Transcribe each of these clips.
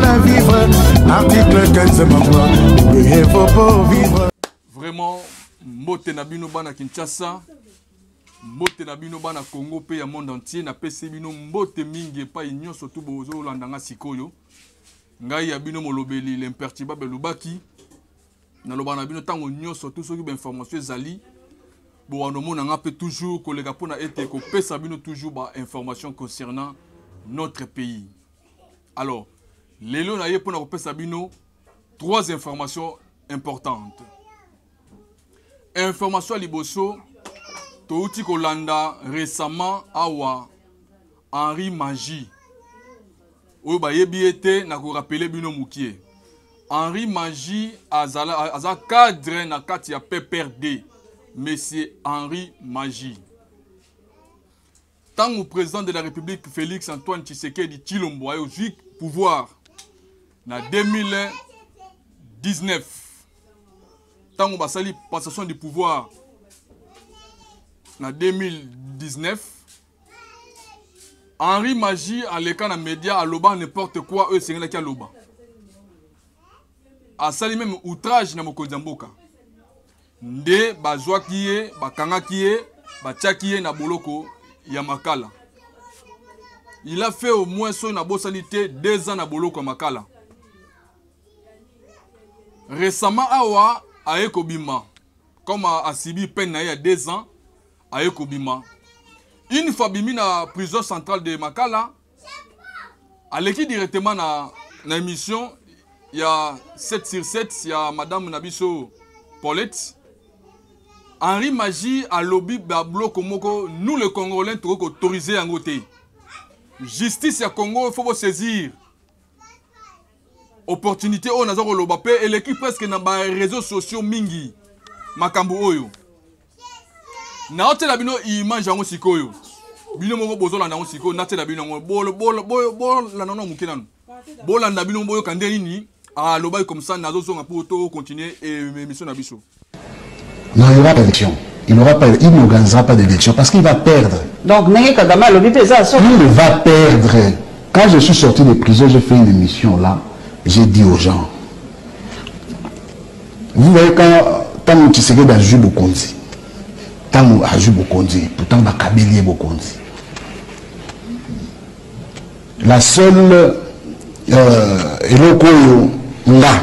la vivre article 15 mama il faut pas vivre vraiment mbote na bino bana kinshasa mbote na bino bana congo mpe ya monde entier napesi bino mbote mingi epai nyonso tu bozolanda nga sikoyo ngai ya bino molobeli l'impertibable elobaki naloba na bino ntango nyonso tu soki bainformation ezali bowanda omona nga mpe toujours koleka mpona ete kopesa bino toujours bainformation concernant notre pays Alors, lelo na ye pona ko pesa bino trois informations importantes. Information liboso touti kolanda récemment awa Henri Magie oyo bayebi ye te na korapele bino mokie henri magi azala, aza cadre na kati ya pprd monsieur henri magi Tango president de la Republique Felix Antoine Tshisekedi Tshilombo ayo zui pouvoir na 2019 tango basali passation du pouvoir na 2019 Henri Magie aleka na media aloba n'importe quoi oyo esengelaki aloba asali meme outrage na mokonzi ya mboka Nde bazwaki ye, bakangaki ye, batiaki ye na boloko ya Makala. Il a fait au moins soki nabosani te deux ans na boloko ya Makala. Récemment awa aye kobima comme asibi peine na ye ya deux ans aye kobima une fois bimi na prison centrale de Makala aleki directement na, na émission ya 7 sur 7 ya madame na biso paulette henri magie alobi babloko moko nous le congolais tokoki koautorise yango te justice ya congo faut bosaisir opportunité oyo naza koloba mpe eleki presque na bareseau sociaux mingi makambo oyo naotyela bino image yango sikoyo bino moko bozolanda yango sikoyo natyela bino yango bolanda nano moke nano bolanda bino boyoka nde nini alobaki comme ça nazozonga mpo to continuer émission na biso non il y aura élection il n'aura pas il n'organisera pas d'élection parce qu'il va perdre donc ndenge kagame alobi mpe eza il va perdre quand je suis sorti de prison j'ai fait une émission là j'ai dit aux gens Vous voyez quand tango Tshisekedi azui bokonzi tango azui bokonzi pourtant bakabeli ye bokonzi la seule euh, eloko oyo nga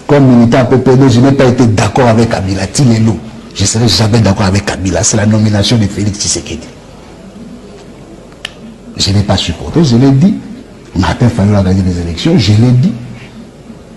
comme militant PPD je n'ai pas été d'accord avec Kabila ti lelo je serai jamais d'accord avec Kabila c'est la nomination de Félix Tshisekedi je n'ai pas supporté je l'ai dit Martin Fayot a gagné les élections je l'ai dit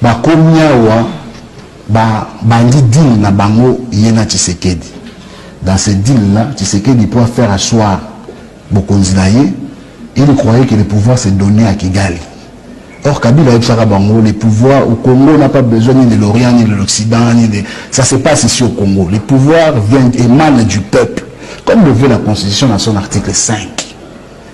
Bakomi awa ba bandi deal na bango ye na Tshisekedi. Dans ce deal là, Tshisekedi po a faire asseoir bokonzi na ye, il croyait que le pouvoir se donnait à Kigali. Or Kabila ayebisaka bango le pouvoir au Congo n'a pas besoin ni de l'Orient ni de l'Occident ni de ça se passe ici au Congo. Le pouvoir vient émane du peuple comme le veut la constitution dans son article 5.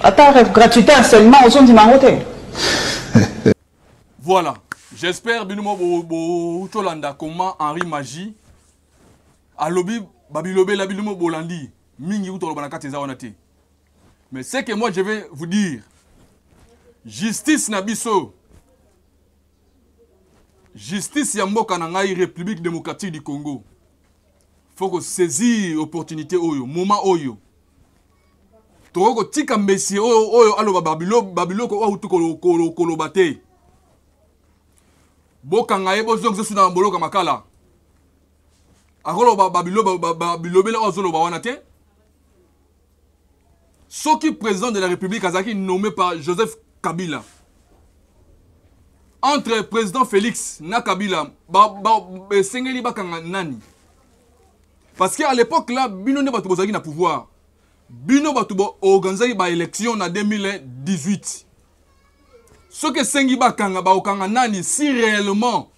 Ata rêve gratuité harcèlement ozo ndima yango te. Voilà. J'espère bino mo bo bo tolanda comment Henri Magie alobi babilobela bino mo bolandi mingi kutu aloba na kati eza wana te. Mais c'est que moi je vais vous dire justice na biso justice ya mboka na ngai république démocratique du congo faut kosaisir opportunité oyo moment oyo tokoki kotika messie oyo oyo aloba babiloko oyo auti koloba te bokanga ye bozongisa osu na boloka makala akoloba babilobela oyo azoloba wana te soki président de la république azalaki nommé par joseph kabila entre président félix na kabila esengeli ba, ba, bakanga nani Parce que à l'époque là, bino nde bato bozalaki na pouvoir. Bino bato bo organisaki ba élection na 2018. Soki esengi bakanga, bakokanga nani si réellement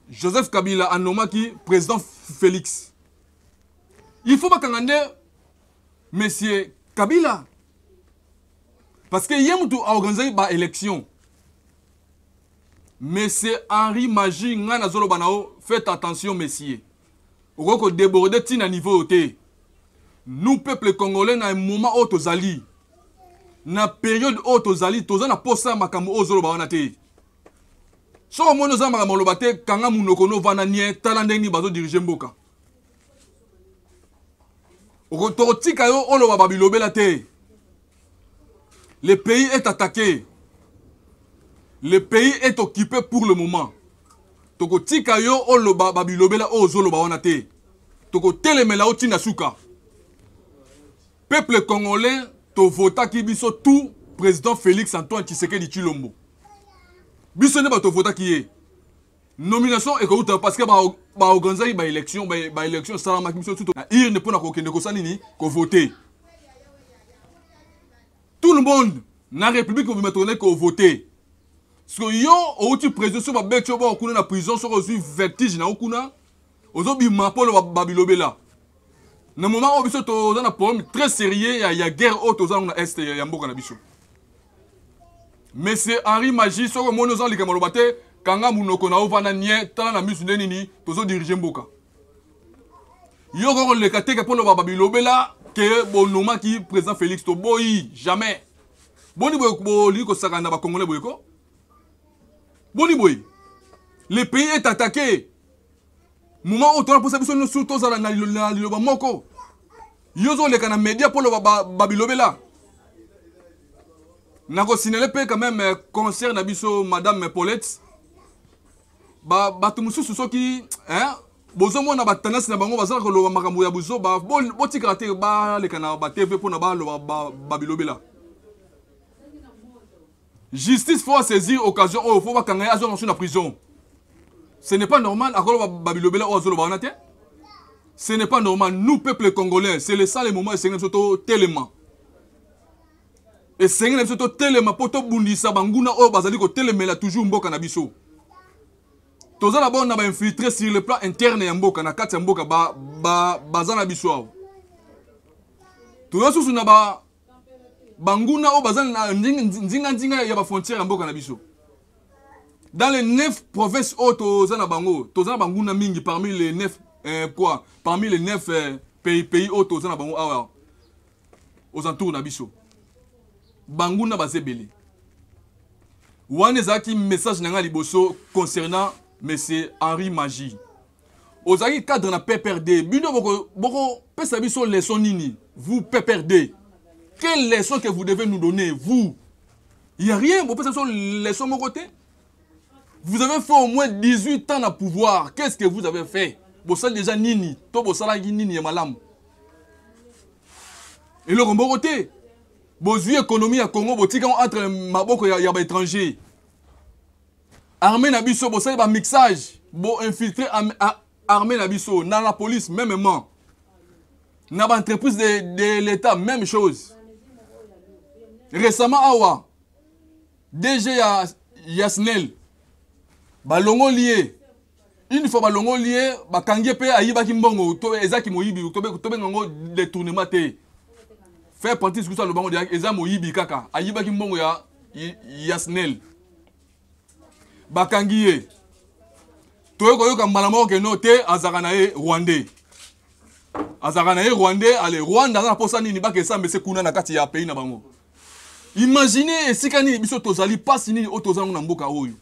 Joseph Kabila a nommaki président Félix. Il faut bakanga nde monsieur Kabila. Parce que ye mutu a organisaki ba élection. Monsieur Henri Magie ngai nazoloba na yo faites attention monsieur okoki kodeborde ti na niveau oyo te nous peuple congolais na moment oyo tozali na periode oyo tozali toza na posa ya makambo oyo ozoloba wana te soki omoni oza na makambo oloba te kanga monoko no ovanda nie tala ndenge nini bazodirige mboka tokotika yo oloba babilobela te Le pays est attaqué. Le pays est occupé pour le moment. Toko tika yo oloba babilobela o zoloba wana te. Toko telemela o tina suka. Peuple congolais to vota ki biso tout président Félix Antoine Tshisekedi Chilombo. Biso ne ba to vota ki ye. nomination ekouta parce que baorganisaki ba baélection baélection esalamaki biso tuto na urne mpo na kokende kosala nini kovote tout le monde na république mobima tokendaki kovote siko yo outi président so babeti yo boko kuna na prison soko ozwi vertige na yo kuna ozo bima polo ba bilobela na moment oyo biso toza na problème très sérieux ya, ya guerre oyo toza yango na est ya, ya mboka na biso monsieur henri magie soki omoni oza likambo aloba te kanga monoko na ovanda nie tala na misu nde nini tozo dirige mboka yo koko leka teke mpo loba babilobela ke bonomaki président félix toboyi jamais boni boye bolingi kosakana na bacongolais boye ko boni boye le pays est attaqué moma oyo tona mposa biso nyonso tozala na liloba moko yo ozoleka na media mpo loba babilobela nakosinale mpe quand même euh, concert na biso madame paulette bato ba mosusu soki bozomona batendance na bango bazalaka koloba makambo ya buzoba botikaka te baleka na batv mpona baloba babilobela ba Justice faut saisir occasion oyo faut bakanga ye azonga su na prison. Ce n'est pas normal akoloba babilobela oyo azoloba wana te. Ce n'est pas normal. Nous, peuple congolais, c'est le ça le moment esengeli biso totelema. Esengeli biso totelema mpo tobundisa banguna oyo bazali kotelemela toujours mboka na biso. Toza na bona ba infiltré sur le plan interne ya mboka na kati ya mboka ba ba baza na biso awa. Toza susu na ba banguna oyo baza na nzinganzinga ya bafrontière ya mboka na biso dans les neuf provinces oyo toza na bango toza na banguna mingi parmi les neuf euh, quoi parmi les neuf euh, pays pays oyo toza na bango awa aux entours na biso banguna baza ebele wana ezalaki message na ngai liboso concernant monsieur henri magie ozalaki cadre na pprd bino bokopesa biso leçon nini vous pprd quelle leçon que vous devez nous donner vous il y a rien bopesa biso leçon moko te vous avez fait au moins 18 ans na pouvoir qu'est ce que vous avez fait bosali déjà nini to bosalaki nini ya malamu eloko moko te bozwi économie ya congo botika yango entre maboko ya, ya baétranger Armée na biso bosali ba mixage bo infiltrer armée na biso na la police mêmement na ba entreprise de, de l'État même chose. Récemment awa DG ya Yasnel balongoli ye une fois balongoli ye bakangi ye mpe ayibaki mbongo to eza kimoyibi tobenga yango détournement te faire partie sikusu aloba yango eza moyibi kaka ayibaki mbongo ya yasnel bakangi ye toye koyoka mbala moko keno te azalaka na ye rwandais azalaka na ye rwandais ale rwanda aza na mposa nini bakesamba ese kuna na kati ya pays na bango imagine esika nini biso tozali mpasi nini oyo toza yango na mboka oyo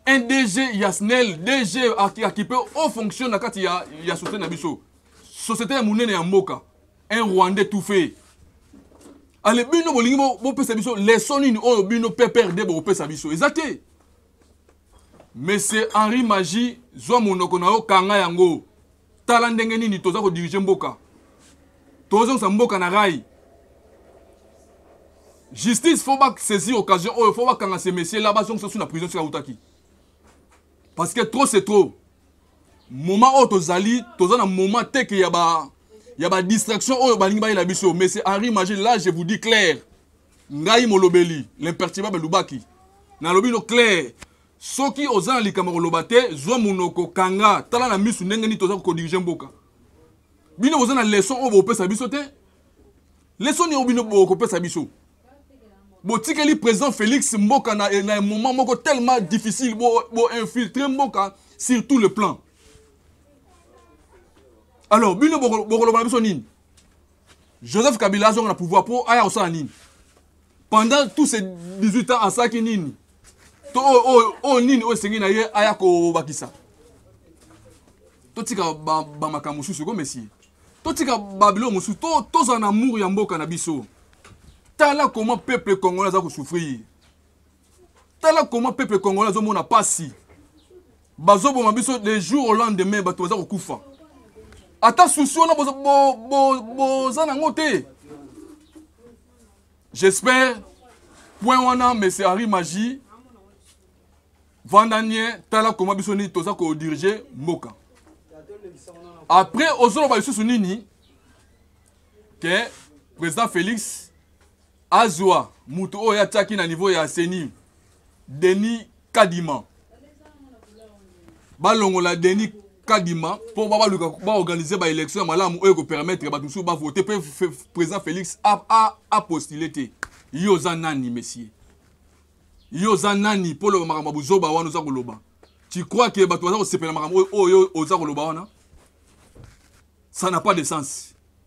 un DG ya SNEL, DG akipe au fonction na kati ya, ya société na biso. Société ya munene ya mboka. Un Rwandais tout fait. Ale bino bolingi bopesa biso leçon nini oyo bino PPRD bokopesa biso. Eza te. Monsieur Henri Magie, zwa monoko na yo kanga yango. tala ndenge nini toza kodirige mboka tozongisa mboka na rai justice fo basaisir occasion oyo fo bakanga se messier la bazongisa su na prison soki autaki parce que trop c'est trop moment oyo tozali toza na moment teke ya ba ya ba distraction oyo balingi bayela biso mais c'est henri magie là je vous dis clair ngai molobeli l'imperturbable lubaki nalobi no clair soki oza na likambo koloba te zwa monoko kanga tala na misu ndenge nini toza kodirige mboka bino boza na leson oyo bopesa biso te leson nini oyo bino bokopesa biso botikeli président félix mboka na, na moment moko tellement difficile boinfiltre bo mboka sur tout le plan alors bino bokoloba na biso nini joseph kabila azonga na pouvoir mpo aya kosala nini pendant tous ces 18 ans asalaki nini to oyo oh, oh, oh, nini oyo esengi na ye aya kobakisa totika bamakambo mosusu ko mesie totika babilo mosusu tozala na amour ya mboka na biso tala comment peuple congolais aza kosouffrir tala comment peuple congolais azomona mpasi bazoboma biso le jour au lendemain bato baza kokufa ata susi wana boza nango te j'espère point wana monsieur henri magie vanda nie tala koma biso nini toza kodirige mboka après ozoloba lisusu nini ke président félix azwa moto oyo atiaki na niveau ya ceni denis kadima balongola denis kadima mpo babaluka baorganize baélection ya malamu oyo ekopermettre bato mosusu bavote mpe président félix apostule te yo oza nani monsieur yo oza nani mpo oloba makambo ya buzoba wana oza koloba tu crois ke bato baza kosepela makambo oyo oyo oza koloba wana ça n'a pas de sens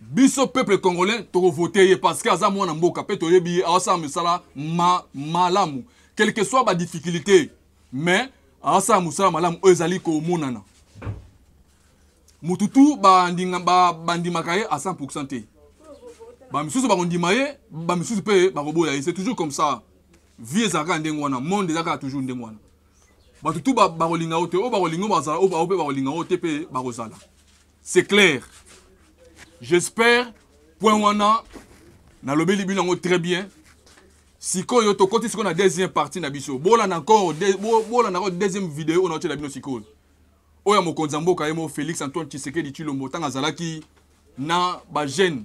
biso peuple congolais tokovote ye parce que aza mwana mboka mpe toyebi ye aosala misala ma, malamu quelque soit badifficulté mais aosala mosala malamu oyo ezali komonana motu tu bandimaka ye a 100 te bamisusu bakondima ye bamisusu mpe bakoboya ye c'est toujours comme ça vie ezalaka ya ndenge wana monde ezalaka ya toujours ndenge wana bato tu bakolinga yo te oyo bakolinga yo bazala oyo mpe bakolinga yo te mpe bakozala c'est clair j'espère point wana nalobeli bino yango très bien sikoyo tokoti sikoyo na deuxième partie na biso bolanda encore bolanda encore deuxième video oyo naotyela bino sikoyo oyo ya mokonzi ya mboka ye mo félix antoine tshisekedi tshilombo ntango azalaki na bagene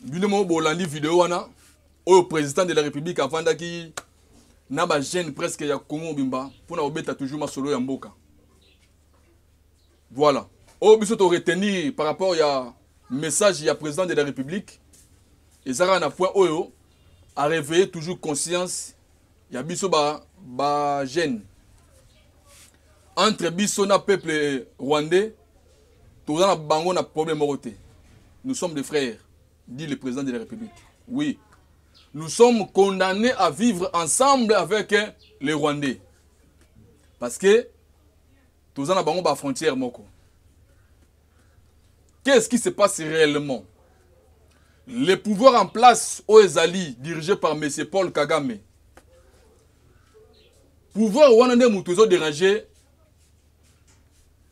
bino moko bolandi video wana oyo président de la république avandaki na bagene presque ya congo mobimba mpo na kobeta toujours masolo ya mboka voilà oyo biso toretenir par rapport ya message ya président de la république eza kaka na point oyo areveille toujours conscience ya biso ba ba jeune entre biso na peuple rwandais toza na bango na problème moko te nous sommes des frères dit le président de la république oui nous sommes condamnés à vivre ensemble avec les rwandais parce que toza na bango ba frontière moko qu'est-ce qui se passe réellement le pouvoir en place oyo ezali dirigé par monsieur paul kagame pouvoir wana nde moto ezo déranger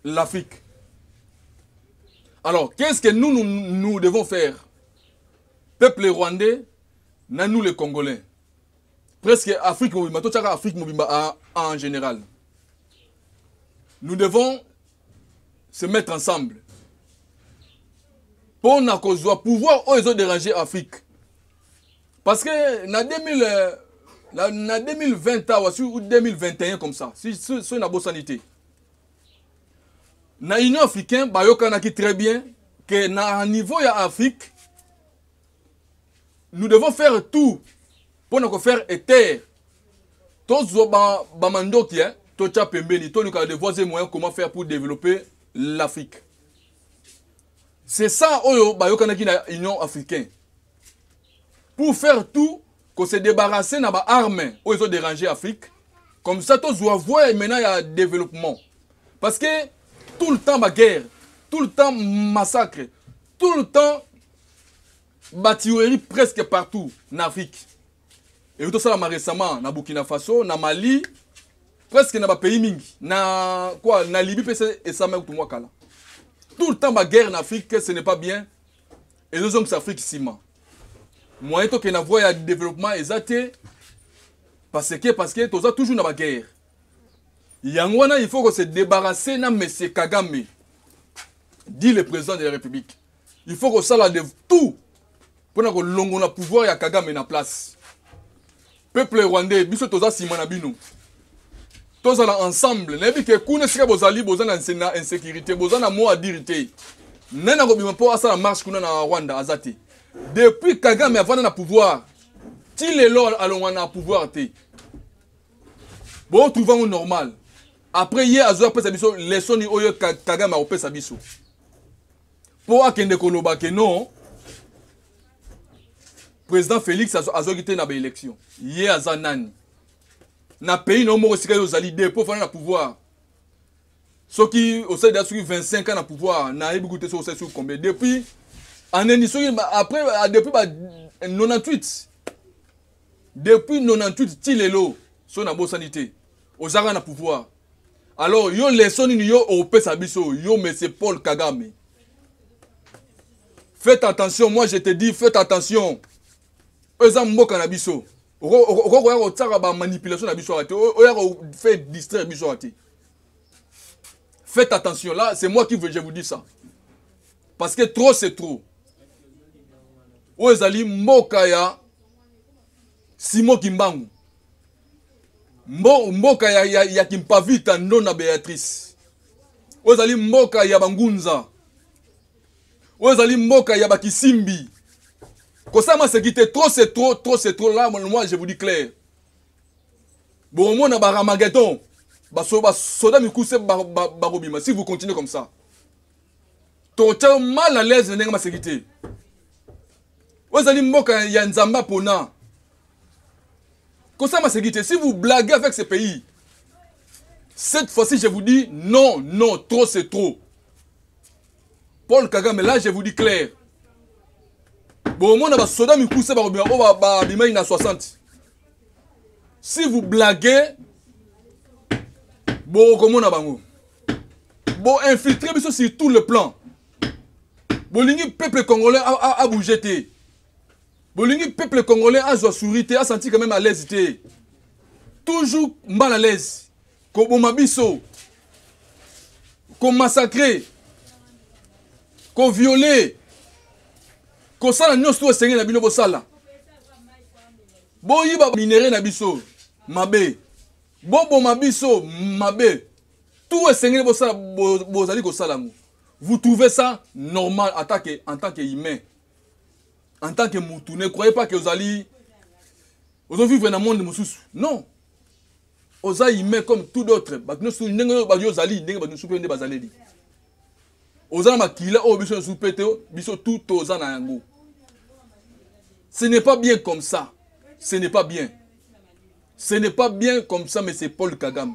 l'afrique alors qu'est-ce que nous, nous nous devons faire peuple rwandais na nous les congolais presque afrique mobimba totyaka afrique mobimba en général nous devons se mettre ensemble mpo na kozwa pouvoir oyo ezoderange afrique parce que na 2000 euh, na, na 2020 awa si 2021 comme ça soki si, si, nabosani te na union africain bayokanaki très bien que na niveau ya afrique nous devons faire tout mpo na kofaire etere tozwa bamandoki ba eh, totya pembeni toluka de voies et moyen comment faire pour développer l'afrique c'est ça oyo bayokanaki na union africaine pour faire tout ko se débarrasser na baarme oyo ezo déranger afrique comme ça tozwa voie maintenant ya développement parce que tout le temps baguerre tout le temps massacre tout le temps ba tuerie presque partout na afrique eki tosalama récemment na burkina faso na mali presque na bapays mingi na quoi na libye mpe se esalama kutu mwa kala tout le temps baguerre na afrique ce n'est pas bien ezozongisa afrique nsima moyen tokende na voie ya développement eza te parce que parce que toza toujours na baguerre yango wana il faut ko se débarrasser na monsieur kagame dit le président de la république il faut kosala de tout mpo na kolongola pouvoir ya kagame na place peuple rwandais biso toza nsima na bino tozala ensemble nayebi ke kuna esika bozali boza na insécurité boza na mot adire te nani akobima mpo asala marche kuna na rwanda aza te depuis kagame avanda na pouvoir ti lelo alongwa na pouvoir te botrouve yango normal après ye azoya apesa biso lesoni oyo kagame akopesa biso mpo akende koloba ke non président félix azwaki te na baélection ye aza nani na pays na yo moko esika yo ozali de mpo ofanda na pouvoir soki osali da soki 25 ans na pouvoir nayebi kutu te soki osali soki combien depuis aneni soki après depuis ba 98 depuis 98 ti lelo so nabosani te ozaka na pouvoir alors yo leso nini yo opesa biso yo monsieur paul kagame faites attention moi je te dis faites attention oyo eza mboka na biso okoki koya kotiaka bamanipulation na biso awa te oya kofaire distraire biso awa te faites attention là c'est moi qui veux je vous dis ça parce que trop c'est trop oyo ezali mboka ya simo kimbangu Mbo, mboka ya, ya, ya kimpavita ndona beatrice oyo ezali mboka ya bangunza oyo ezali mboka ya bakisimbi kosama seki te trop c'est trop trop c'est trop là moi je vous dis clair bomona baramagedon basoda mikuse bakobima si vous continuez comme ça tokotya yo mal à l'aise na ndenge maseki te oyo ezali mboka ya nzambe apona kosala maseki te si vous blaguez avec ce pays cette fois-ci je vous dis non non trop c'est trop paul kagame là je vous dis clair bomona basoda mikuse bakobima oyo babimaki na 60 si vous blaguez bokomona bango boinfiltre biso sur tout le plan bolingi peuple congolais abouge te bolingi peuple congolais azwa souri te asanti quand même à l'aise te toujours mbala à l'aise koboma biso komassacre koviole kosala nyonso to esengeli na bino bosala boyiba minere na biso mabe boboma biso mabe tout esengeli bosala bozali kosala yango vous trouvez ça normal en tant que, en tant que humain en tant que mutu ne croyez pas que ozali ozovivre na monde mosusu non oza humain comme tout d'autre bato nyonso ndenge oyo bato ozali ndenge bato nyonso mpe nde bazaleli oza na makila oyo biso nyonso mpe te biso tout toza na yango ce n'est pas bien comme ça ce n'est pas bien ce n'est pas bien comme ça mais c'est paul kagame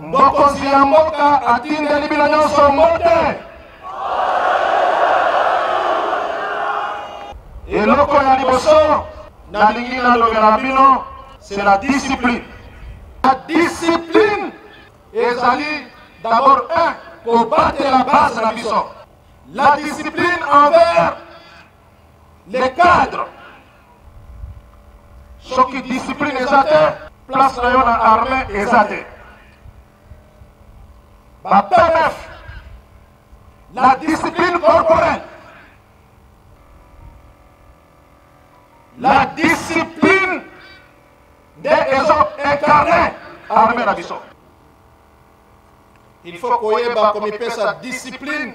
Mokonzi ya mboka atindeli bino nyonso mbote. Eloko ya liboso nalingi nalobela bino c'est la discipline. La discipline ezali d'abord un kobatela base na biso. La discipline envers les cadres soki discipline eza te place na yo na armée eza te ba pmf la discipline corporelle la discipline nde ezo incarne armée na biso il faut koyeba komipesa discipline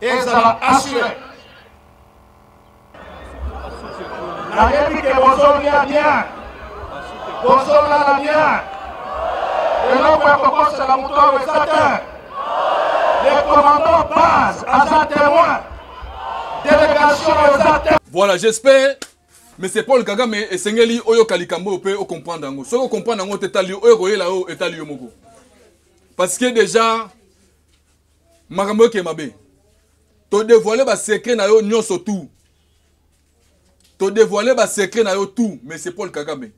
ezala asure nayebi ke bozolia bien bozolala bien eloko ya kokosela moto awa eza te le commandant base aza témoin délégation eza te voilà j'espère monsieur paul kagame esengeli oyoka likambo oyo mpe okomprendre yango soki okomprendre yango te etali oyo ekoyela oyo etali yo moko parce que déjà makambo eke mabe todevoile basekre na yo nyonso tout todevoile basekre na yo tout monsieur paul kagame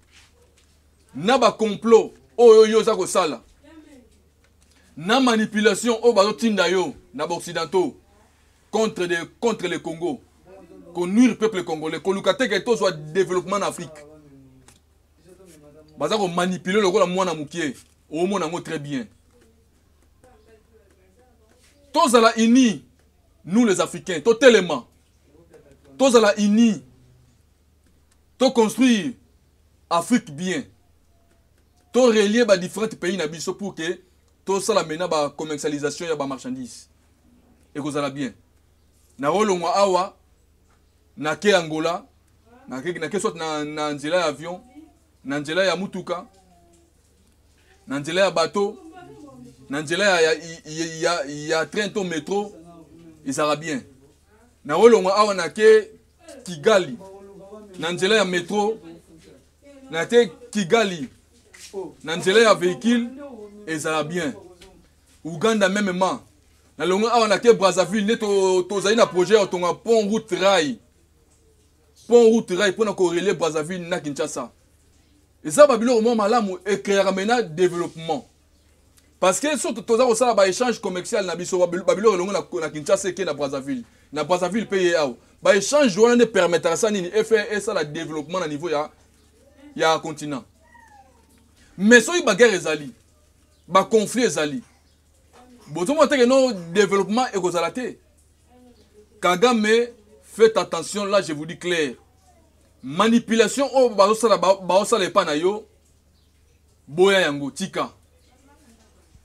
na bacomplot oyo yo oza kosala na manipulation oyo bazotinda yo na baoccidentaux contre, de, contre le congo konuire peuple congolais koluka te ke tozwa développement na afrique baza komanipule lokola mwana mokie omona yango très bien tozala unis nous les africains totelema tozala unis toconstruire afrique bien torelie badifférentes pays na biso pour que tosala mena bacommercialisation ya bamarchandise ekozala bien nakolongwa awa nake angola nake soit na, na nzela ya avion na nzela ya mutuka na nzela ya bateau na nzela ya, ya, ya, ya, ya train to metro ezalaka bien nakolongwa awa nake kigali na nzela ya metro nake kigali na nzela ya véhicule ezala bien uganda meme ma nalongo awa nake brazzaville nde tozali to na projet ya kotonga pont route rail pont route rail mpona korelie brazzaville na kinshasa eza babiloko mwa malamu ecreaka mena développement parce que soki toza kosala baéchange commercial na biso babiloko elongo na kinshasa eke na brazzaville na brazzaville mpe ye awa baéchange wana nde permetaka sa nini efe esala développement na niveau ya, ya continent mais soki baguerre ezali baconflit ezali bozomona teke no développement ekozala te kagame faites attention là je vous dis clair manipulation oyo bazosala baosala epai na yo boya yango tika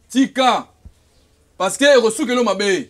tika parce que ekosukeli yo mabe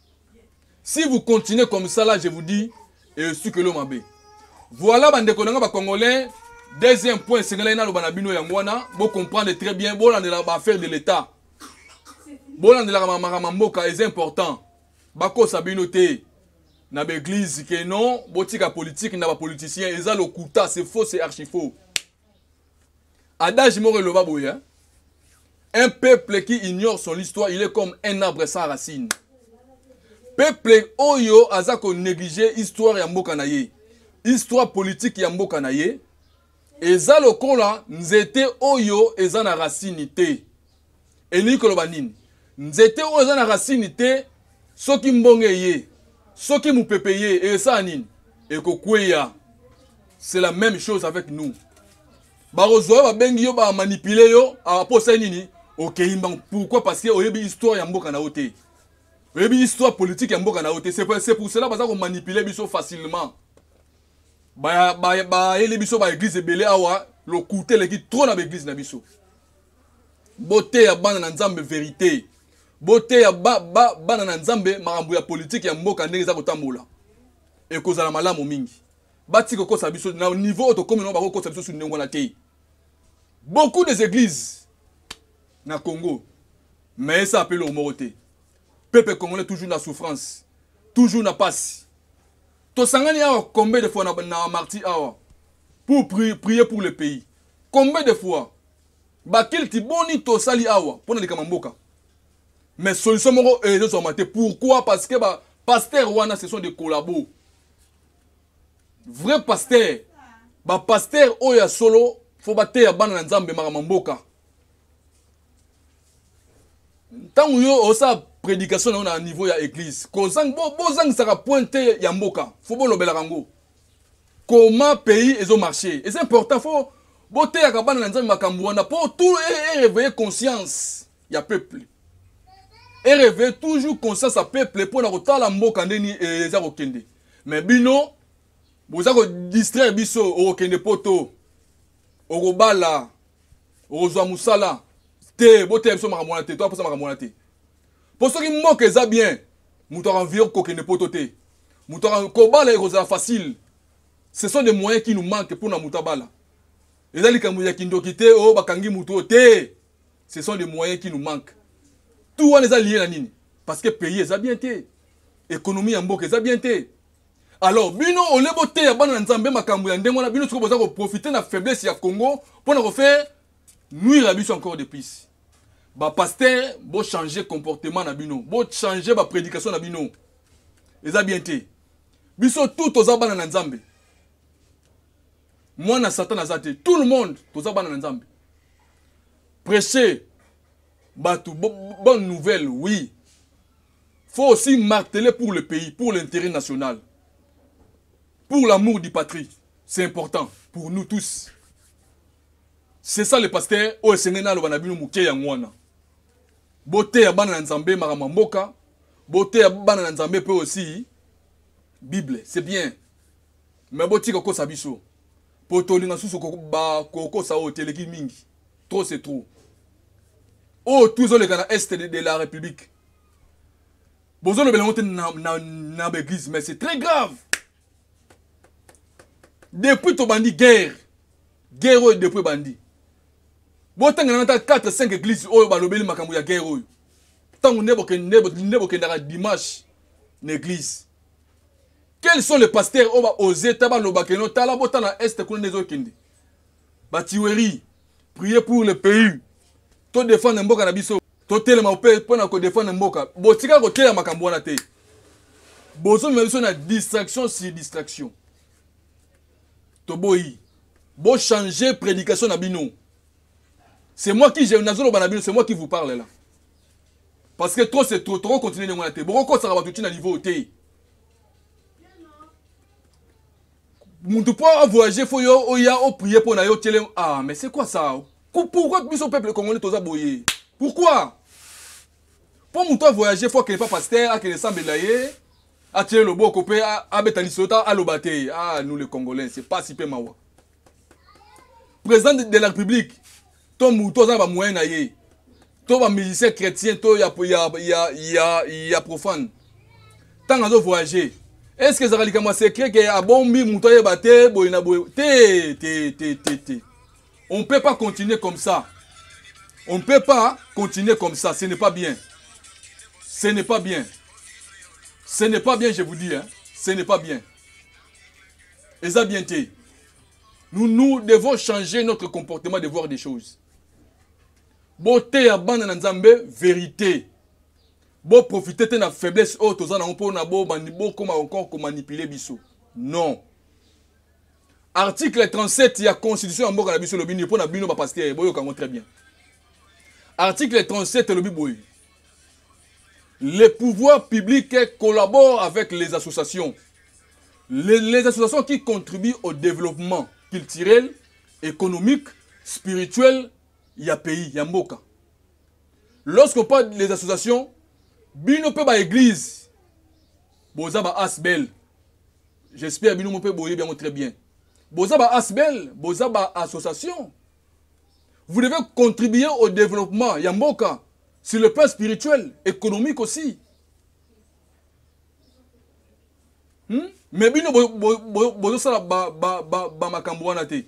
si vous continuez comme ça là je vous dis esukelo mabe voilà bandeko na nga bacongolais deuxième point esengelaki naloba na bino yango wana bocomprendre très bien bolandelaka baaffaire de l'état bolandelaka makambo ya mboka eza important bakosa bino te na baeglise ke non botika politike na bapoliticien eza lokuta c'est faux c'est archifaux Adage moko eloba boye hein? Un peuple qui ignore son histoire, il est comme un arbre sans racine. Peuple oyo aza ko négliger histoire ya mboka na ye. Histoire politique ya mboka na ye. Eza lokola nzete oyo eza na racine te. elingi koloba nini nzete oyo eza na rasini te soki mbonge eye soki mopepe eye ekosala nini ekokweya c'est la même chose avec nous bakozwa yo babengi yo bamanipule yo apo ah, osali nini okei mbango pourquoi parce que oyebi histoire ya mboka na yo te oyebi histoire politique ya mboka na yo te c'est pour cela baza komanipule biso facilement bayeli biso baeglize ebele awa lokute eleki trop na baeglize na biso boteya bana na nzambe verite boteya ba, ba, bana na nzambe makambo ya politike ya mboka ndenge eza kotambola ekozala malamu mingi batika kokosa biso na niveau oyo tokomi nango bakokosa biso su ndenge wana te beaucoup des églises na congo mais esa apele oyo moko te peuple congolais toujours na souffrance toujours na pasi tosangani awa combien de fois na, na marti awa pour prier, prier pour le pays combien de fois bakilti boni tosali awa mpo na likama mboka mais solution moko eh, ezozwama te pourquoi parce que ba pasteur wana ce sont des collabos vrai pasteur bapastere oyo ya solo fo bateya bana na nzambe makambo mboka ntango yo osala prédication na yo na niveau ya église bozangisaka bo point te ya mboka fo bolobelaka yango comment pays ezo marcher eza important fo boteyaka bana na nzambe makambo wana mpo tout ereveille e conscience ya peuple ereveille toujours conscience ya peuple mpo na kotala mboka ndeni e, eza kokende me bino boza kodistraire biso okokende poto okobala okozwa mosala te boteya biso makambo wana te toaposa makambo wana te mpo soki mboka eza bien moto akanvie kokende poto te moto kobala ekozala facile ce sont des moyens qui nous manque mpo na moto abala eza likambo ya kindoki te oyo oh, bakangi moto oyo te ce sont des moyens qui nous manque tout wana eza lie na nini parce que pays eza bien te économie ya mboka eza bien te alors bino olie boteya bana na nzambe makambo ya ndenge wana bino soki boza koprofite na faiblesse ya congo mpo na kofaire nuire biso encore de plus bapastere bochange comportement na bino bochange baprédication na bino eza bien te biso tout toza bana na nzambe mwana satan aza te tout le monde toza bana na nzambe prêche bato bonne nouvelle oui faut aussi marteler pour le pays pour l'intérêt national pour l'amour du patrie c'est important pour nous tous c'est ça le pasteur oyo esengeli naloba na bino moke yango wana boteya bana na nzambe makambo ya mboka boteya bana na nzambe mpe osi bible c'est bien me botika kokosa biso mpo tolinga susu kokosa oyo te eleki mingi trop c'est trop oyo tu ezoleka na est de, de la république bozolobela yango te na, na, na baeglise mais c'est très grave depuis tobandi guerre guerre oyo depuis ebandi botanga nanga ata 4 5 église oyo balobeli makambo ya guerre oyo ntango nde bokendaka dimanche na église quels sont les pasteurs oyo baose ta balobaka eno tala botala est kuna nde ezokende ba tuerie prier pour le pays to défendre mboka na biso totelema mpe mpo na kodefendre mboka botika koteya makambo wana te bozomema biso na distraction sur distraction toboyi bochange prédication na bino c'est moi qui nazoloba na bino c'est moi qui vous parle là parce que trop c'est trop tokokontinue ndenge wana te bokokosaka bato ntina niveau te mutu po avoyage fo yo oya oprie mpo na yo tele ah mais c'est quoi ça pourquoi biso peuple congolais toza boye pourquoi mpo mutu avoyage fo akende pa pasteur akende esambela ye atie loboko mpe abeta lisolo ta aloba te ah nous les congolais c'est pasi mpe mawa président de la république to mutu aza na bamoyen na ye to bamusicien chrétien to ya, ya, ya, ya, ya profane ntango azovoyage est ce que ezalaka likambo ya secret ke abombi moto ayeba te boye na boye te te te te te on ne peut pas continuer comme ça on ne peut pas continuer comme ça ce n'est pas bien ce n'est pas bien ce n'est pas bien je vous dis hein. ce n'est pas bien eza bien te nous, nous devons changer notre comportement de voir des choses boteya bana na nzambe verité boprofite te na faiblesse oyo toza nango mpo na bokoma encore komanipule biso non article 37 ya constitution ya mboka na biso elobi nini mpo na bino bapastere boyoka yango très bien article 37 elobi boye les pouvoirs publics collaborent avec les associations Les, les associations qui contribuent au développement culturel, économique, spirituel ya pays, ya mboka. Lorsqu'on parle des associations, bino pe ba église, boza ba asbel. J'espère bino mo pe boye bien très bien. Boza ba asbel, boza ba association. Vous devez contribuer au développement ya mboka sur le plan spirituel, économique aussi. hmm? me bino bozosala bamakambo wana te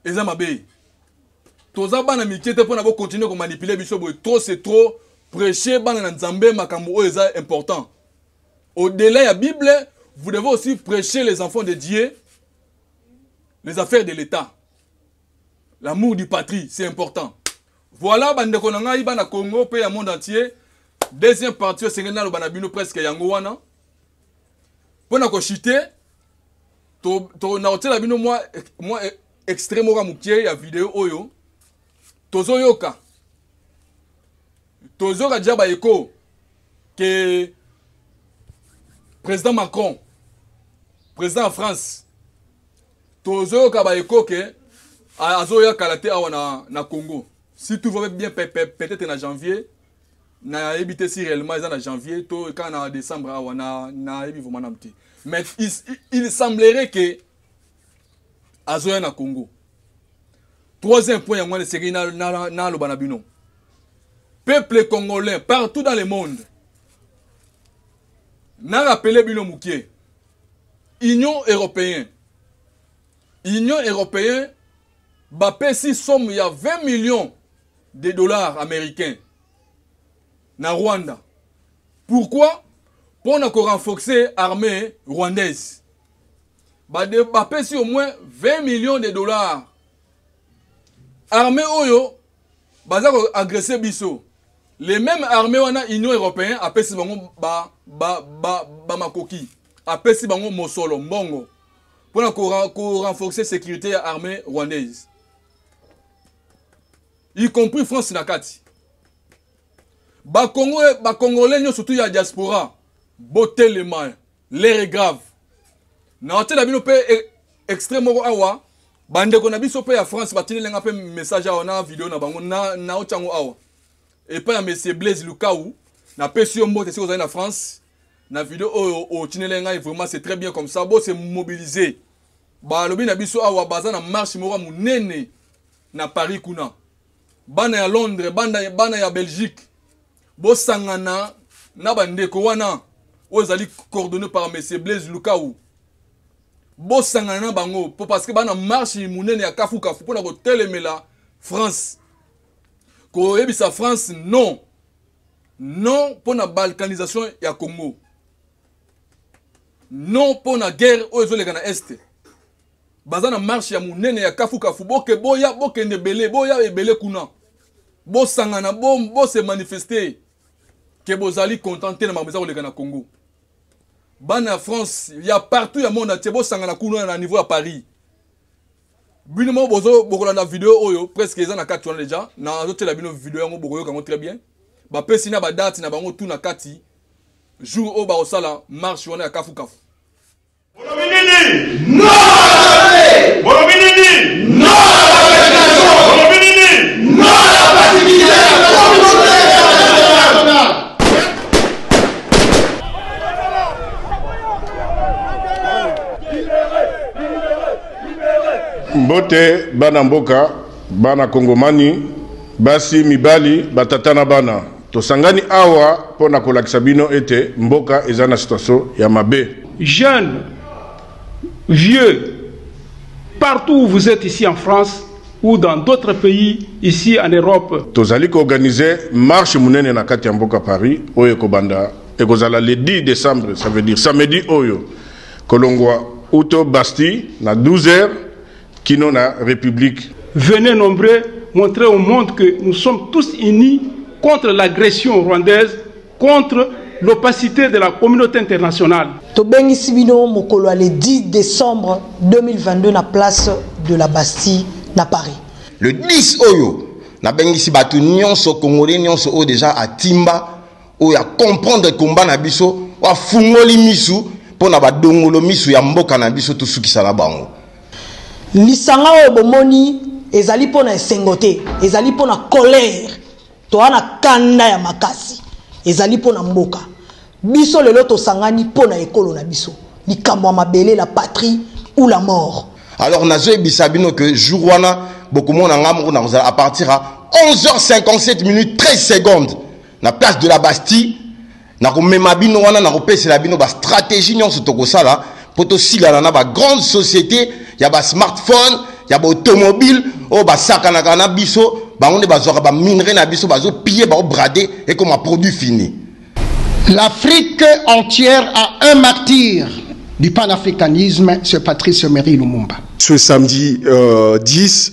eza mabe toza bana mike te mpona bokontinue komanipule biso boye trop c'est trop prêche bana na nzambe makambo oyo eza important au-delà ya bible vous devez aussi prêcher les enfants de dieu les affaires de l'état l'amour du patrie c'est important Voilà ba ndeko na ngai bana Congo pe ya monde entier. Deuxième partie osengeli naloba na bino presque yango wana. Pona ko chiter to to na otela bino moi moi e, extrait moko mukie ya vidéo oyo tozoyoka tozoyoka déjà ba eko que président Macron président ya France tozoyoka ba eko ke azoya kala te awa na, na congo si tout va bien peut-être na janvier nayebi te si réellement eza na janvier to kaka na décembre awa nayebi vraimen nanu te mais il, il semblerait ke azoya na congo troisième point yango wana esengeli naloba na bino peuple congolais partout dans le monde narapele bino moke union européen union européen bapesi somme ya 20 millions de dollars américains na rwanda pourquoi mpo na korenforce armée rwandaise bapesi ba au moins 20 millions de dollars armée oyo baza ko agresser biso les mêmes armées wana union européen apesi bango ba, ba, ba, ba makoki apesi bango mosolo mbongo mpona korenforcer sécurité ya armée rwandaise y compris france na kati bakongole nyonso tu ya diaspora botelema L'heure est grave. Na otela bino pe e, extrait moko awa bandeko na biso pe ya France batindeli nga pe message awa na video na bango na na otiango awa. Epa ya monsieur Blaise Lukau na pesi yo mbote siko na France na video oyo otindeli nga vraiment c'est très bien comme ça bo se mobiliser. Ba lobi na biso awa baza na marche moko munene na Paris kuna. Bana ya Londres, bana bana ya Belgique bosangana na bandeko wana oyo ezali coordonné par monsieur blaise lukau bosangana na bango mpo parce que bana marche monene ya kafukafu mpona kotelemela france koyebisa france non non mpo na balkanisation ya congo non mpo na guerre oyo ezoleka na este baza na marche ya monene ya kafukafu boke boya bokende ebele boya ebele kuna bosangana bo, bo se manifester ke bozali content te na makambo eza koleka na congo bana ya france ya partout ya monde atie bosangana kuna na niveau ya paris bino moko bozo bokolanda video oyo presque eza na kati wana deja nazotyela bino video yango bokoyoka yango très bien bapesi na badate na bango tu na kati jour oyo bakosala marche wana ya kafukafu mbote bana mboka bana kongomani basi mibali batata na bana Tosangani awa mpo na kolakisa bino ete mboka eza na situation ya mabe. Jeunes, vieux, partout où vous êtes ici en France ou dans d'autres pays ici en Europe. Tozali ko organiser marche munene na kati ya mboka Paris oyo ekobanda ekozala le 10 décembre, ça veut dire samedi oyo kolongwa uto Bastille na 12 heures Kino na Republique. Venez nombreux montrer au monde que nous sommes tous unis contre l'agression rwandaise, contre l'opacité de la communauté internationale. Tobengisi bino mokolo le 10 décembre 2022 na place de la Bastille na Paris. Le 10 oyo nabengisi bato nyonso congolais nyonso oyo deja atimba oyo a comprendre combat na biso afungoli misu mpo na badongolo misu ya mboka na biso tosukisa na bango lisanga oyo bomoni ezali mpo na esengo te ezali mpo na colère toa na kanda ya makasi ezali mpo na mboka biso lelo tosangani mpo na ekolo na biso likambo ya mabele la patrie ou la mort alors nazoyebisa bino ke jour wana bokomona ngai moko nakozala à partir ya 11h57 minutes 13 secondes na place de la bastille nakomema bino wana nakopesela bino bastratégie nyonso tokosala mpo tosilana na bagrande société ya basmartphone ya baautomobile oyo basakanaka na biso bango nde bazwaka baminerai na biso bazopiye baobrade ekoma produit fini l'afrique entière a un martyr du panafricanisme ce patrice emery lumumba ce samedi euh, 10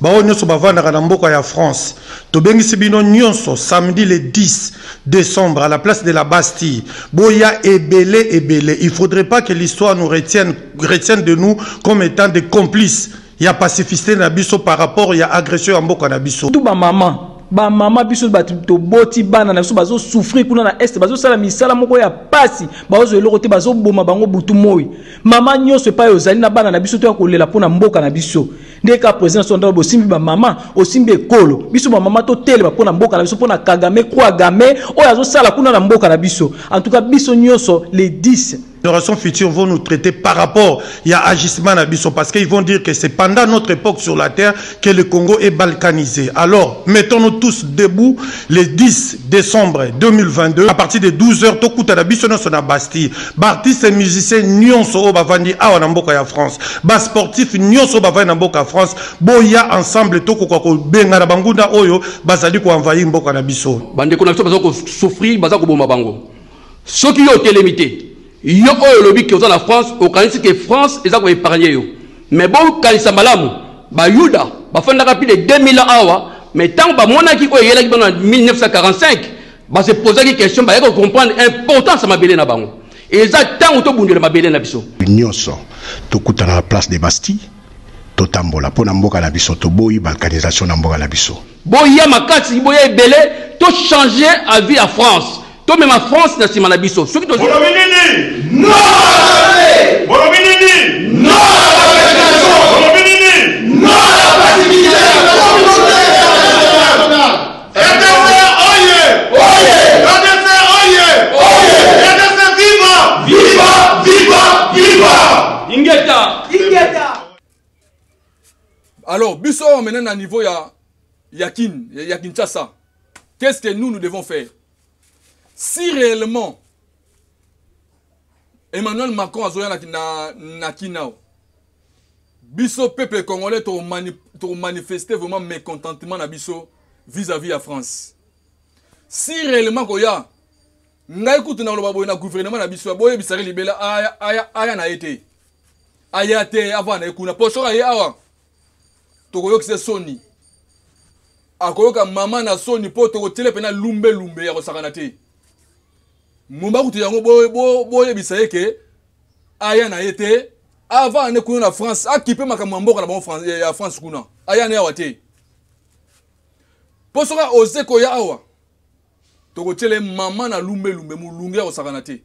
Baoyo nyonso bavandaka na mboka ya France, tobengisi bino nyonso samedi le 10 decembre à la place de la Bastille. Boya ebele ebele. Il faudrait pas que l'histoire nous retienne, retienne de nous comme étant des complices ya pacificité na biso par rapport ya agression ya mboka na biso. Tout ba maman bamama biso bato toboti bana na biso bazosouffrir kuna na este bazosala misala moko ya mpasi bazwa eloko te bazoboma bango butu moi mama nyonso epai ozali na bana na biso toya kolela mpo na mboka na biso Ndenge kaka president na biso andako bosimbi ba mama, osimbi ekolo. Biso ba mama totelema mpo na mboka na biso, mpo na Kagame, Kwagame oyo azosala kuna na mboka na biso. En tout cas biso nyonso les 10 générations futures vont nous traiter par rapport ya agissement na biso parce qu'ils vont dire que c'est pendant notre époque sur la terre que le Congo est balkanisé. Alors, mettons-nous tous debout le 10 décembre 2022 à partir de 12h tokuta na biso na sona Bastille. baartiste musicien nyonso oyo bavandi awa na mboka ya france basportif nyonso oyo bavandi na mboka ya france boya ensemble tokoka kobengana bangunda oyo bazali koenvahir mboka na biso bandeko na biso baza kosouffrir baza koboma bango soki yo otelemi te yo oyo olobi ke oza na france okanisi ke france eza koepargne yo me bokanisa malamu bayuda bafandaka mpi de 2000 ans awa me ntango bamonaki oyo eyelaki bana na 1945 Ba se posaki question ba yako comprendre importance ya mabele na bango. Eza tango to bundela mabele na biso. Nyoso to kutana na place de Bastille to tambola pona mboka na biso to boyi balkanisation na mboka na biso. Boya makasi boya ebele to changer avis ya France. To mema France na sima na biso. Soki to Bolobi nini? Non! Bolobi nini? Non! Alors, biso on maintenant à niveau ya ya Kin, ya Kinshasa. Qu'est-ce que nous nous devons faire Si réellement Emmanuel Macron a na na Kinao biso peuple congolais tokomanifeste vraiment mécontentement na biso vis-à-vis ya france si réellement koya ngai kutu na koloba boye na gouvernement na biso boyebisaki libela aya, aya, aya na ye te aya te avanda na ye kuna mpo soki aye awa tokoyokisa soni akoyoka mama na soni mpo tokotyele mpena lumbelumbe ya kosakana te momba kutu yango boyebisa bo, bo ye ke aya na ye te avant ane kuna na france akipe makambo ya mboka na bango ya france kuna aya ne awa te mpo soki aose koya awa tokotyela ye mama na lumbelumbe molunge ya kosakana te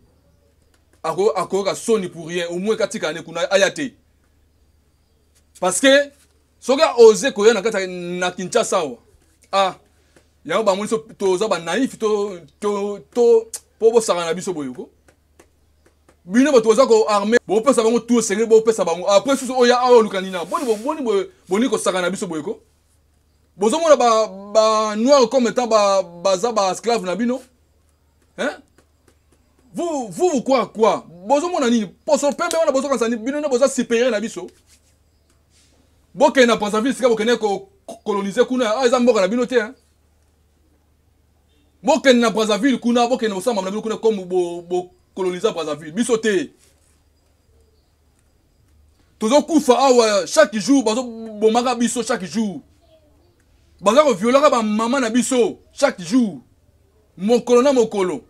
akoyoka soni pour rien omoi katika ane kuna aya te parce que soki aose koya na kati na kinshasa awa ah yango bango nyonso toza banaïf to, to, to, mpo bosakana na biso boyeko bino bato boza koarme bopesa bango tu esengeli bopesa bango apres susu oya awa oluka nina boni boni boni kosaka na biso boyeko bozomona banoir comme etant baza baesclave na bino hein? vous vous vous croire quoi bozomona nini poso pembe wana bozokanisa bino nde boza supérieur na biso bokende na brazzaville sika bokende kolonise kuna awa ah, eza mboka na bino te hein? bokende na brazzaville kuna bokende bosamba na bino kuna comme bokolonisa brazzaville biso te tozokufa awa chaque jour bazobomaka biso chaque jour baza koviolaka bamama na biso chaque jour mokolo na mokolo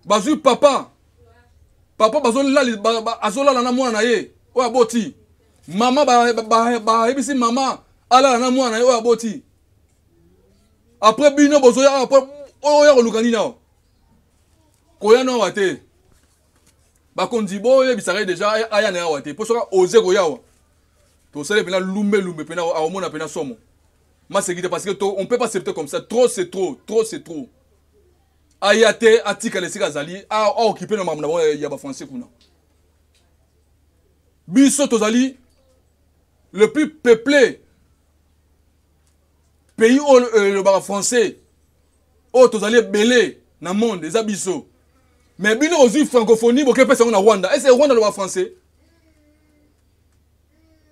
bazwi papa papa azolala na mwana na ye oyo aboti mama bayebisi mama alala na mwana na ye oyo aboti après bino bozoya awa po oya koluka nini awa koya no awa te bakonzi boyebisaka ye deja aya na ye awa te mpo soki oze koya awa tosali mpena lumbe lumbe mpena aomona mpena somo maseki te parce que to, on peut pas accepter comme ça trop c'est trop trop c'est trop aya te atikala esika azali aokipe na makambo na bango ya bafrançais kuna biso tozali le plus peuplé pays oyo euh, elobaka français oyo tozali ebele na monde eza biso mais bino ozwi francophonie boke pesa yango na rwanda ese rwanda aloba français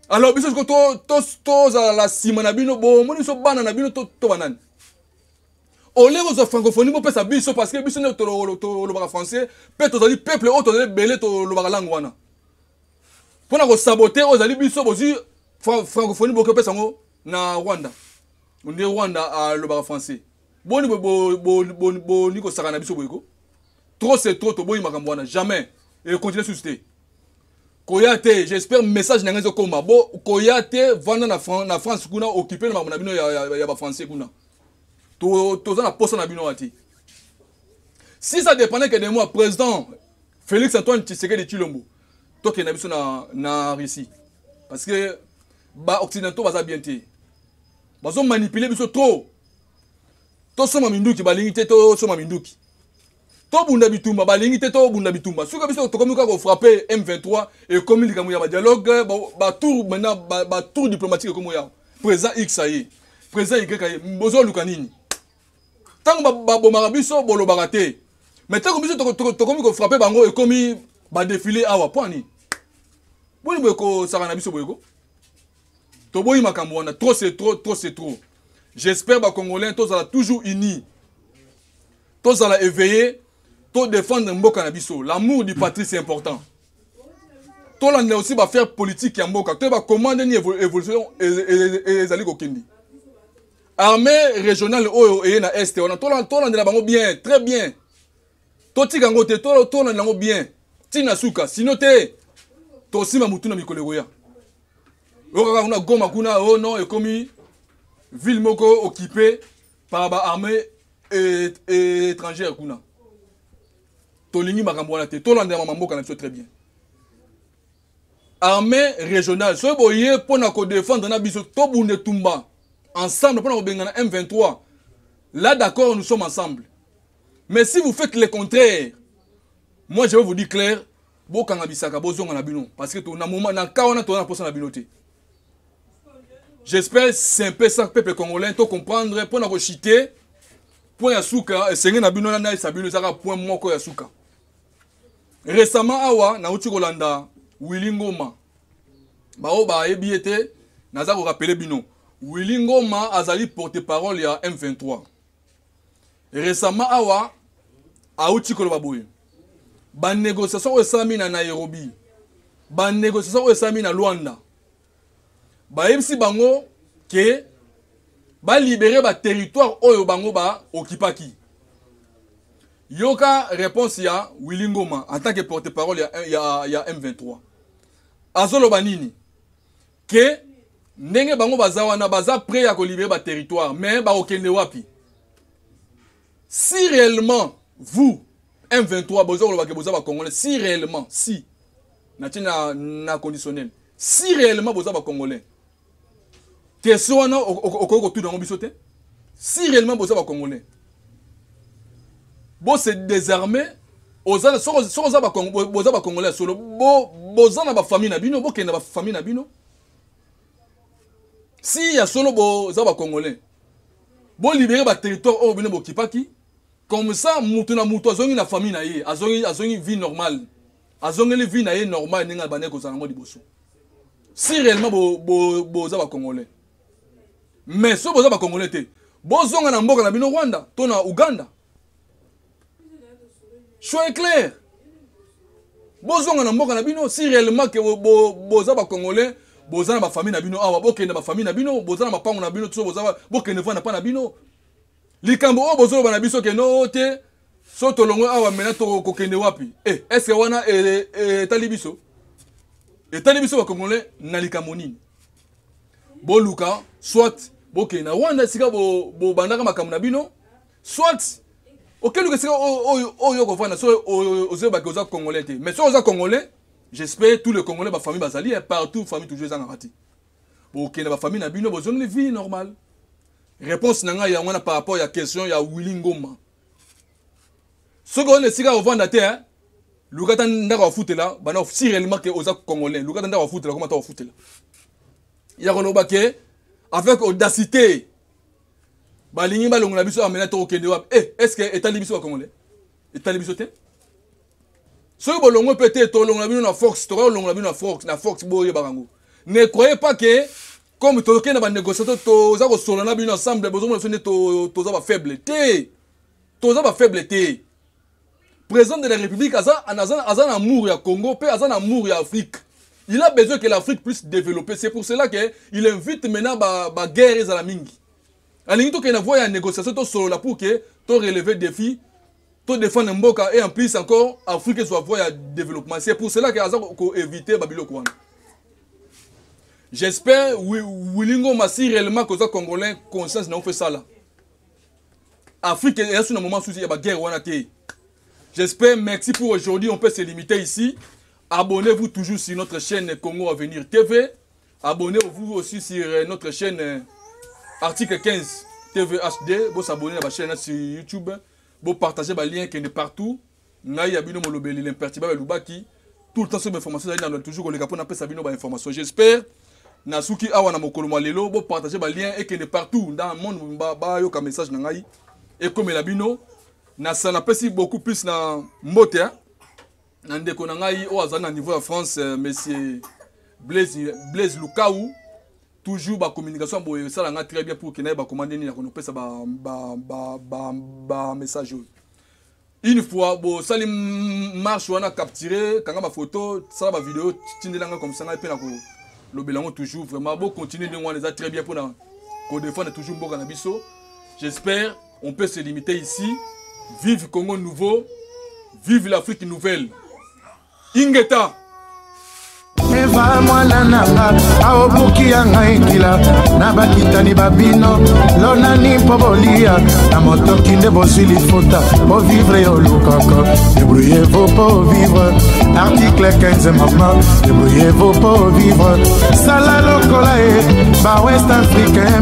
alors biso siko tozala na nsima na bino bomoni biso bana na bino to banani olie kozwa francophonie bopesa biso parce que biso nde tolobaka français mpe tozali peuple oyo tozali ebele tolobaka langue wana mpo na kosabote oyo ezali biso bozwi francophonie bokoki opesa yango na rwanda nde rwanda alobaka ah, français boni boni kosaka na biso boyeko trop c'est trop toboyi makambo wana jamais ekontinue susu te koya te j'espère message na ngai ezokoma bo koya te vanda na, Fran na france kuna okipe na makambo na bino ya, ya, ya bafrançais kuna toza to na posa na bino wana te si ça dépendait que de moi président Felix Antoine Tshisekedi Chilombo tokenda biso na, na Russie parce que ba occidentaux baza bien te bazo manipuler biso trop tosomba minduki balingi te tosomba minduki tobunda bitumba balingi te tobunda bitumba soki biso tokomi kaka kofrappe m23 ekomi likambo ya badialogue batour maintenant batour diplomatique ekomi oyo présent x aye présent y aye bozoluka nini ntango babomaka biso bolobaka te mais ntango biso tokomi kofrape bango ekomi badefile awa mpo ani boni boye kosaka na biso boyeko toboyi makambo wana trop c'est trop trop c'est trop j'espère bacongolais tozala toujours unis tozala éveillé todefendre mboka na biso l'amour du patrie c'est important tolandela aussi bafaire politique ya mboka toyeba comment ndeni évolution ezali kokende armée régionale oyo eye na est wana tolandela bango bien très bien totika yango te tolandela yango bien ntina suka sino te tosima motu na mikolo ekoya okaka kuna goma kuna o oh non ekomi ville moko occupé par baarmée étrangère kuna tolingi makambo wana te tolandela mamamboka na biso très bien armée régionale soki boye mpo na kodefendre na biso tobunda etumba ensemble mpo na kobengana m23 là d'accord nous sommes ensemble mais si vous faites le contraire moi je vais vous dire clair bokanga bisaka bozonga na bino parce que na moment na ka wana toza na mposa na bino te j'espère simpe ça peuple congolais to comprendre mpo na kochite point ya suka esenge na bino na nayesa bino ezaka point moko ya suka Récemment awa nauti kolanda Willy Ngoma. Baoyo bayebi ye te naza korapele bino. Willy Ngoma azali porte-parole ya M23. Récemment awa auti koloba boye. Ba négociations oyo esalami na Nairobi. Ba négociations oyo esalami na Luanda. bayebisi bango ke balibere baterritoire oyo bango baokipaki yoka réponse ya willi ngoma en tant que porte parole ya, ya, ya m23 azoloba nini ke ndenge bango baza wana baza près ya kolibere baterritoire mais bakokende wapi si réellement vous M23 boza koloba ke boza ba congolais si réellement si na tie na na conditionnel si réellement boza ba congolais question wana okoki kotuna yango biso te si réellement boza ba congolais bo se désarmer oza soki oza boza ba congolais ya solo boza na ba famille na bino bokende na ba famille na bino si ya solo boza ba congolais bolibere ba territoire oyo bino bokipaki Comme ça mutu na mutu azongi na famille na ye, azongi azongi vie normale. Azongeli vie na ye normale ndenge abandaki kozala ngo liboso. Si réellement bo bo boza ba congolais. Mais so boza ba congolais te, bozonga na mboka na bino Rwanda to na Ouganda. Choix est clair. bozonga na mboka na bino si réellement ke boza bacongolais boza na bafamille na bino awa bokende bafamille na bino boza na mapango na bino tiso bokende vanda mpa na bino likambo oyo bozoloba na biso kende oo te so tolongwe awa mena tokokende wapi eh, eske wana eh, eh, etali biso etali biso bakongolais na likambo nini boluka soit bokende na rwanda esika bobandaka makambo na bino soit okeluka esika oyo okofanda so ozoyebaki oza congolais te mais soki oza congolais j'espère tous les congolais bafamille bazali partout famille toujours ezangaka te bokende bafamille na bino bozongeli vie normale Réponse na ngai yango wana par rapport ya question ya Willy Ngoma. Soki on esika ovanda te hein. Luka ata ndako afutela bana si réellement que oza congolais luka ata ndako afutela koma ata ofutela. Ya koloba ke avec audacité balingi balongola biso amena tokokende wapi eh, est ce que etali biso bacongolais etali biso te soki bolongo mpe te tolongola bino na fox tokoki kolongola bino na fox na fox boyebaka yango ne croyez pas que comme tokende na banégociation toza kosolola na bino ensemble bozomona biso nde toza bafaible te toza bafaible te président de la république aza, aza, aza na amour ya congo mpe aza na amour ya afrique il a besoin que l'afrique puisse développer c'est pour cela que il invite maintenant baguerre ba ezala mingi alingi tokende na voi ya négociation tosolola pour que torelever défi to défendre mboka et en plus encore afrique ezwa voie ya développement c'est pour cela que aza koéviter babiloko wana j'espère wilingo masi réellement koza congolais conscience na ofe sala afrique eya su na moment susi ya baguerre wana te j'espère merci pour aujourd'hui on peut se limiter ici abonnez-vous toujours sur notre chaîne congo avenir tv Abonnez-vous aussi sur euh, notre chaîne euh, Article 15 TVHD. Vous abonnez à la chaîne sur YouTube. Vous partagez les liens qui sont partout. Ngai abino molobeli l'imperturbable Lubaki. Tout le temps sur mes informations, vous avez toujours les capons après ça bino informations. J'espère. Nasuki awa na mokolo mwa lelo bo partager ba lien et que ne partout dans le monde ba, ba yo ka message na ngai et comme la bino na sana pesi beaucoup plus na mbote hein? na ndeko na ngai oyo azali na niveau ya france euh, monsieur blaise, blaise lukau toujours bacommunication ya boye esala ngai très bien pour kenda ye bakoma nde nini ya konopesa bamessage oyo une fois bosali marche wana capture kanga bafoto sala bavideo tindela ngai komisa ngai mpe na kolobela yango toujours vraiment bocontinue ndenge wana eza très bien mpona kodefendre toujours mboka na biso j'espère On peut se limiter ici. Vive Congo Nouveau. Vive l'Afrique Nouvelle. Ingeta. eva mwana na nga aobuki ya ngai nkila na bakitani babino lonani mpo bolia na motoki nde bozwi lifuta bovivre yo lukaka debrouillez-vous mpo vivre article 15 mama debrouillez-vous mpo vivre sala lokola ye ba west africain